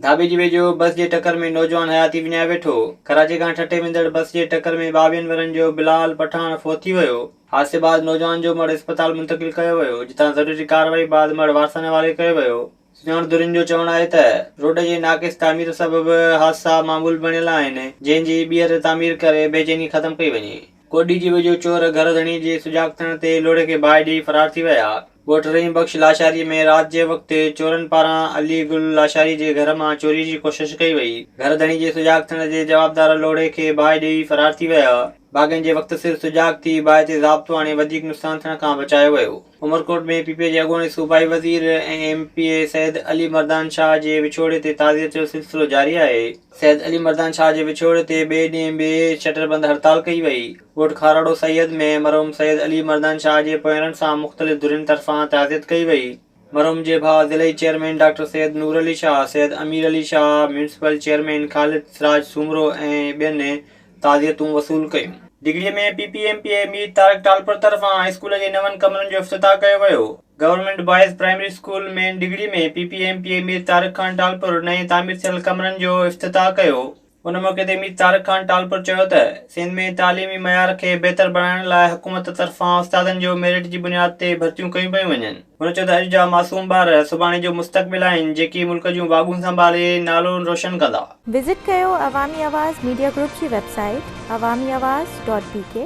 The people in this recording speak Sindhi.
ڌاٻيجي ويجهو بس جي ٽڪر ۾ نوجوان حياتي وڃائي ويٺو، ڪراچي کان ٺٽي ويندڙ بس جي ٽڪر ۾ ٻاويهن ورهين جو بلال پٺاڻ فوت ٿي ويو، حادثي بعد نوجوان جو مڙهه اسپتال منتقل ڪيو ويو جتان ضروري ڪارروائي بعد مڙهه وارثن حوالي ڪيو ويو، سڃاڻپدرين جو چوڻ آهي ته روڊ جي ناقص تعمير سبب حادثا معمول بڻيل آهن جنهن جي ٻيهر تعمير ڪري بيچيني ختم ڪئي وڃي. ڪوڏي جي ويجهو چور گهر ڌڻي جي سجاڳ ٿيڻ تي لوڙهي کي باهه ڏيئي فرار ٿي ويا. ڳوٺ رحيم بخش لاشاري ۾ رات جي وقت چورن پاران علي گل لاشاري جي گهر مان چوري جي ڪوشش ڪئي وئي. گهر ڌڻي جي سجاڳ ٿيڻ تي جوابدار لوڙهي کي باهه ڏيئي فرار ٿي ويا. باغين جي وقت سر سجاڳ ٿي باهه تي ضابطو آڻي وڌيڪ نقصان ٿيڻ کان بچايو ويو. عمرڪوٽ ۾ پي پي جي اڳوڻي صوبائي وزير ۽ M P A Syed Ali Mardan Shah جي وڇوڙي تي تعزيت جو سلسلو جاري آهي. سيد علي مردان شاهه جي وڇوڙي تي ٻئي ڏينهن به شٽر بند هڙتال ڪئي وئي. ڳوٺ کاروڙو سيد ۾ مرحوم سيد علي مردان شاهه جي پوئرن سان مختلف ڌرين طرفان تعزيت ڪئي وئي. مرحوم جي ڀاء ضلعي chairman doctor Syed Noor Ali Shah, Syed Amir Ali Shah, municipal chairman Khalid Siraj Soomro ۽ ٻين تعزيتون وصول ڪيون. Digri ۾ P P M P A Mir Tariq Talpur طرفان هاء اسڪول جي نون ڪمرن جو افتتاح ڪيو ويو. Government boys primary school main Digri ۾ P P M P A Mir Tariq Khan Talpur نئين تعمير ٿيل ڪمرن جو افتتاح ڪيو. ان موقعي تي مير طارق خان ٽالپر چيو ته سنڌ ۾ تعليمي معيار کي بهتر بڻائڻ لاء حڪومت طرفان استادن جو ميرٽ جي بنياد تي ڀرتيون ڪيون پيون وڃن. هن چيو ته اڄ جا معصوم ٻار سڀاڻي جو مستقبل آهن جيڪي ملڪ جون واڳون سنڀالي نالو روشن ڪندا. وزٽ ڪيو عوامي آواز ميڊيا گروپ جي website Awami Awaz dot بي ڪي.